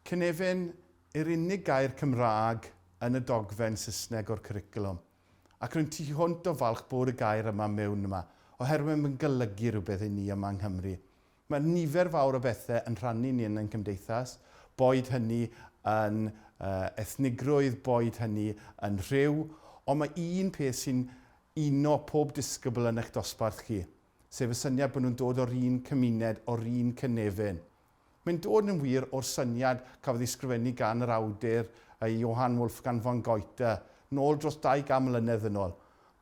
Cynefin yw'r unig gair Cymraeg yn y dogfen Saesneg o'r cwricwlwm, ac rwy'n tu hwnt o falch bod y gair yma mewn yma, oherwydd mae'n golygu rhywbeth i ni yma yng Nghymru. Mae nifer fawr o bethau yn rhannu ni yn ein cymdeithas, boed hynny yn ethnigrwydd, boed hynny yn rhyw, ond mae un peth sy'n uno pob disgybl yn eich dosbarth chi, sef y syniad bod nhw'n dod o'r un cymuned, o'r un cynefin. Mae'n dod yn wir o'r syniad cafodd ei sgrifennu gan yr awdur Johann Wolfgang von Goethe, nôl dros 200 mlynedd yn ol.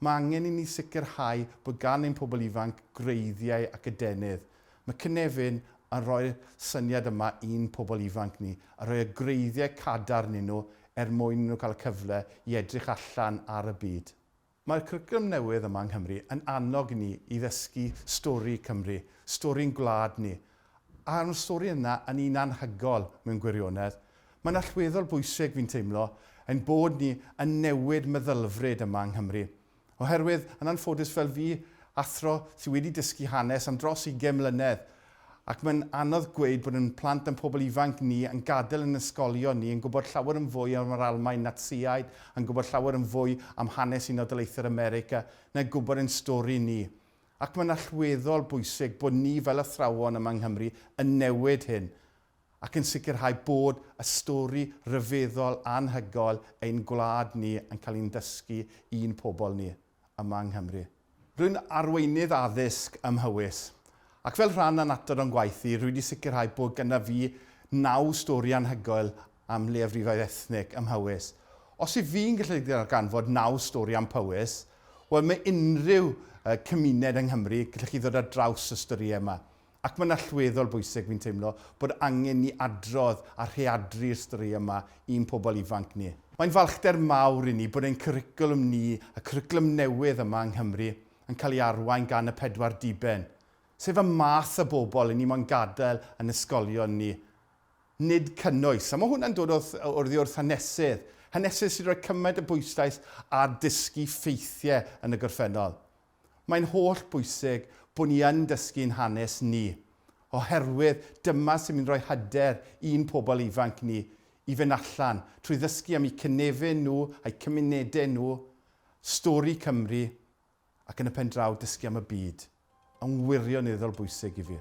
Mae angen i ni sicrhau bod gan ein pobl ifanc gwreiddiau ac adenydd. Mae cynefin yn rhoi'r syniad yma i'n pobl ifanc ni, a rhoi y gwreiddiau cadarn i nhw er mwyn i nhw cael y cyfle i edrych allan ar y byd. Mae'r cwricwlwm newydd yma yng Nghymru yn annog ni i ddysgu stori Cymru, stori'n gwlad ni, a mae'r stori yna yn un anhygoel mewn gwirionedd. Mae'n allweddol bwysig, fi'n teimlo, ein bod ni yn newid meddylfryd yma yng Nghymru. Oherwydd, yn anffodus fel fi, athro sydd wedi dysgu hanes am dros ugain mlynedd, ac mae'n anodd gweud bod ein plant a'n pobl ifanc ni yn gadael ein ysgolion ni yn gwybod llawer yn fwy am yr Almaen Natsïaid, yn gwybod llawer yn fwy am hanes Unol Daleithiau'r America na gwybod ein stori ni. Ac mae'n allweddol bwysig bod ni fel athrawon yma yng Nghymru yn newid hyn ac yn sicrhau bod y stori ryfeddol anhygoel ein gwlad ni yn cael ein dysgu i'n pobl ni. yma yng Nghymru. Rwy'n arweinydd addysg ym Mhowys, ac fel rhan o'n adar o'n gwaith i, rwy wedi sicrhau bod gyda fi naw stori anhygoel am leiafrifoedd ethnig ym Mhowys. Os yw fi'n gallu darganfod naw stori am Powys, wel, mae unrhyw cymuned yng Nghymru, gallwch chi ddod ar draws y storïau yma. Ac mae'n allweddol bwysig, fi'n teimlo, bod angen ni adrodd a rheadru'r storïau yma i'n pobl ifanc ni. Mae'n falchder mawr i ni bod ein cwricwlwm ni, y cwricwlwm newydd yma yng Nghymru, yn cael ei arwain gan y pedwar diben, sef y math o bobl i ni moyn gadael yn ysgolion ni, nid cynnwys. A mae hwnna'n dod oddi wrth hanesydd, hanesydd sy'n rhoi cymaint o bwyslais ar dysgu ffeithiau yn y gorffennol. Mae'n holl bwysig bod ni yn dysgu'n hanes ni, oherwydd dyma sy'n mynd i roi hyder i'n pobl ifanc ni i fynd allan, trwy ddysgu am eu cynefin nhw, a'u cymunedau nhw, stori Cymru, ac yn y pen draw dysgu am y byd, yn wirioneddol bwysig i fi.